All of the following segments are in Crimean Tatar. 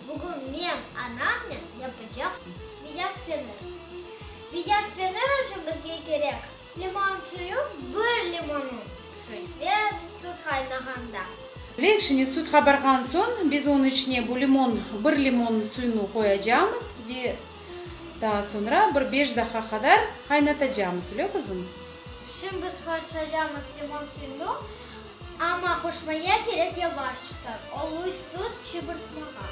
Bugün men anamnen yapacaqsın Viyaz penir. Viyaz penir içün bizge kerek, limon suyu, bir limonı suy ve süt qaynağanda. Ve içine süt qabarğan soñ biz onı içine bu limon, bir limon suyunı qoyacağımız ve. Daa soñra bir beş daqqa qadar qaynatacamız, lö, qızım? Şimdi qoşacamız limon suyunu, amma qoşmaya kerek yavaşçıqtan, oluy sut çıbırtmağa.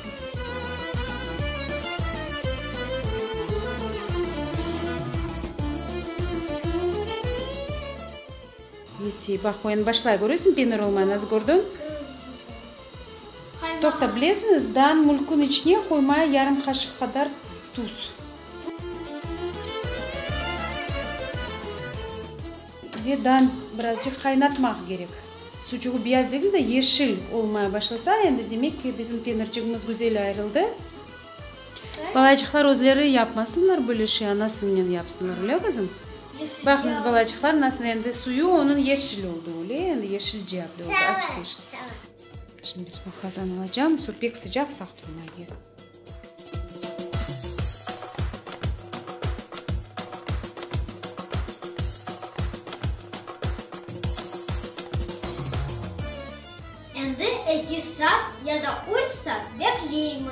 Yetiy, baq, oyan başlay, körüsiñ, penir olmay, nazı kördün? Kördim. Toqta, bilesiñiz, daan mülkün içine qoymaya yarım qaşıq qadar tuz. Ve daan birazcıq qaynatmaq kerek. Sucuğı biyaz degil de, yeşil olmaya başlasa, endi demek ki, bizim penircigimiz güzel ayırıldı. Balaycıqlar özleri yapmasınlar böyle şey, anasıñnen yapsınlar, öyle qızım? Baqıñız, balaycıqlar, nasıl endi suyu onıñ yeşil oldı, öyle, endi yeşil ciyaplı oldı, açıq yeşil. Şimdi biz bu qazan alacağımız, o pek sıcaq, saq turma gerek. Endi eki saat ya da üç saat bekleymiz.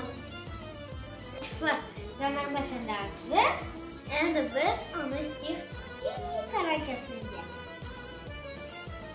Çıqsa qanarmasın da azı. Endi biz onı isteyik tek ara kesmege.